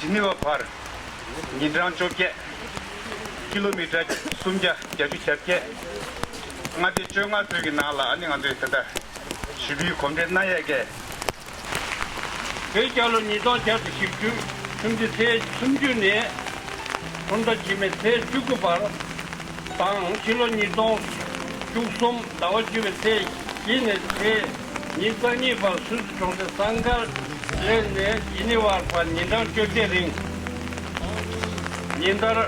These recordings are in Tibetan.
ཇི་ནི་ཝའི་བར། ཉིན་གྲངས་བཅོ་བརྒྱད། ཀི་ལོ་མི་ཀྲ་སུམ་བརྒྱ་བརྒྱ་ཅུ་གྱ་བརྒྱད། མངའ་སྡེ་བཅོ་ལྔ་བོད་ཀྱི་ནང་ལ་ཨ་ནི་ང་ཚོའི་དེ་དག་བཞི་པོའི་གོམས་འདྲིས་སྣ་ཡས་ཀའི། བོད་རྒྱལ་ལོ་ཉིས་སྟོང་བརྒྱད་དུ་བཞི་བཅུ་ཁྲུམས་བརྗེ་ཚེས་སུམ་བཅུ་ནས་ཁྲུམས་ཟླ་དྲི་མེད་ཚེས་བཅུ་དགུ་བར་དང། ཕྱི་ལོ་ཉིས་སྟོང་བཅུ་གསུམ་ཟླ་བ་བཅུ་བའི་ཚེས་བཞི་ནས་ཚེས། ཉིན་གསང་གཉིས་པར་སུད་སི་གྲོང་ཁྱེར་སཱན་ཀར་ལེ་ནས་ཇི་ནི་ཝར་བར་ཉིན་གྲངས་བཅོ་བརྒྱད་རིང། ཉིན་ལྟར་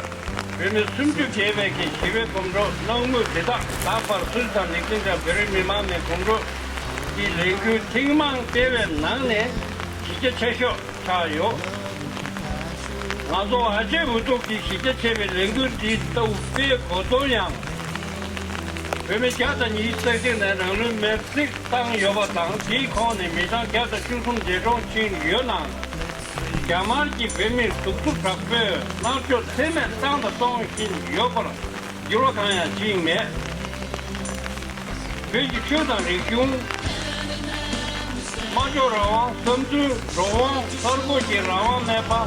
བོད་མི་སུམ་ཅུ་བརྒལ་བས་ཀྱི་ཞི་བའི་གོམ་བགྲོད་གནང་མུས་དེ་དག་ད་བར་སུད་སི་དང་ལི་ཁྲིན་དང་བོད་རིགས་མི་མང་ནས་གོམ་བགྲོད་ཀྱི་ལས་འགུལ་ཐེངས་མང་སྤེལ་བའི་ནང་ནས་གཞི་རྒྱ་ཆེ་ཤོས་ཆགས་ཡོད། ང་ཚོ་ཨ་ཅེ་འུ་ཐུག་གིས་གཞི་རྒྱ་ཆེ་བའི་ལས་འགུལ་འདི་ལྟ་བུ་སྤེལ་དགོས་དོན་ཡང། བོད་མི་བརྒྱ་དང་ཉིས་བརྩེགས་དེ་ནས་རང་ལུས་མེར་བསྲེགས་བཏང་ཡོད་པ་དང་དེའི་ཁོངས་ནས་མི་གྲངས་བརྒྱ་དང་བཅུ་གསུམ་འདས་གྲོངས་ཕྱིན་ཡོད་ནའང། རྒྱ་དམར་གྱིས་བོད་མིར་གདུག་རྩུབ་དྲག་པོས་མནར་གཅོད་ཚད་མེད་བཏང་དང་གཏོང་བཞིན་ཡོད་པར་འགྱུར་བ་གང་ཡང་ཕྱིན་མེད། བོད་ཀྱི་ཆོས་དང་རིག་གཞུང། སྨྲ་བརྗོད་རང་དབང། བསམ་ཚུལ་རང་དབང། གསར་འགོད་ཀྱི་རང་དབང་མེད་པ།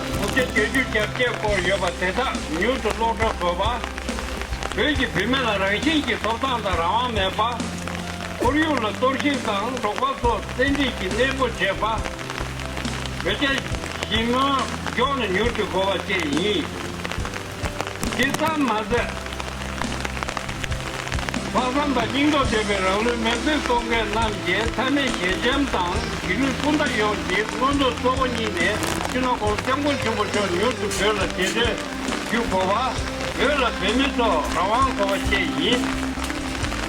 མུ་གེ་སྡོད་རྒྱུ་བརྒྱབ་བཅས་སྐོར་ཡོད་པ་དེ་དག་མྱུར་དུ་ལོག་འགྲོ་དགོས་པ། བོད་ཀྱི་བུད་མེད་ལ་རང་བཞིན་གྱི་ཐོབ་ཐང་དང་རང་དབང་མེད་པ། ཁོར་ཡུག་ལ་གཏོར་བཤིག་དང་འབྲོག་པ་ཚོ་བཙན་ཁྲིད་ཀྱིས་གནས་སྤོ་བྱེད་པ། བོད་རྒྱ་ཞི་མོལ་མགྱོགས་ན་མྱུར་དུ་དགོས་པ་བཅས་ཡིན། དེ་ཙམ་མ་ཟད། ལྷག་བསམ་དང་སྙིང་སྟོབས་ལྡན་པའི་རང་ལུས་མེར་སྲེག་གཏོང་མཁན་རྣམས་ཀྱི་མཐའ་མའི་ཞལ་ཆེམས་དང་གཞིས་ལུས་སྤུན་ཟླ་ཡོངས་ཀྱི་མངོན་འདོད་གཙོ་བོ་གཉིས་ནས་སྤྱི་ནོར ྋགོང་ས ྋསྐྱབས་མགོན་མཆོག་ཕུལ་ཕྱོགས་མྱུར་དུ་བོད་ལ་རྗེས་དྲན་ཞུ་དགོས་པ། བོད་ལ་བོད་མི་ཚོར་རང་དབང་དགོས་པ་བཅས་ཡིན།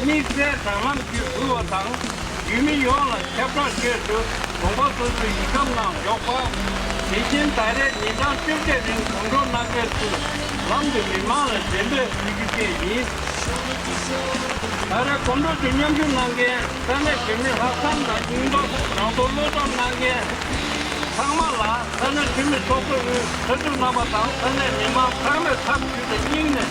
དམིགས་བསལ་དྲ་ལམ་བརྒྱུད་འབུལ་བ་དང་ཡུལ་མི་ཡོངས་ལ་ཁྱབ་བསྒྲགས་སྤྱོད་ཚུལ་དགོངས་པ་སོ་སོའི་ཡིག་སྒམ་ནང་འཇོག་པ། དེ་བཞིན་ད་རེས་ཉིན་གྲངས་བཅོ་བརྒྱད་རིང་དུང་སྒྲོ་གནག་པའི་ཚུལ་ལམ་དུ་མི་མང་ལ་འགྲེམས་སྤེལ་ཞུ་རྒྱུ་བཅས་ཡིན། ད་རེས་དགོང་དྲོ་དུས་མཉམ་ཞུགས་གནང་མཁན་ས་གནས་བོད་མི་ལྷག་བསམ་དང་སྙིང་སྟོབས་རང་དོར་བློ་སྟོབས་གནང་མཁན་ཚང་མ་ལ་ས་གནས་འཐུས་མི་ཚོགས་གཙོ་དབུས་གྲྭ་དྲུག་རྣམ་པ་དང་ས་གནས་མི་མང་ཚང་མས་ཐབས་ཇུས་དང་སྙིང་ནས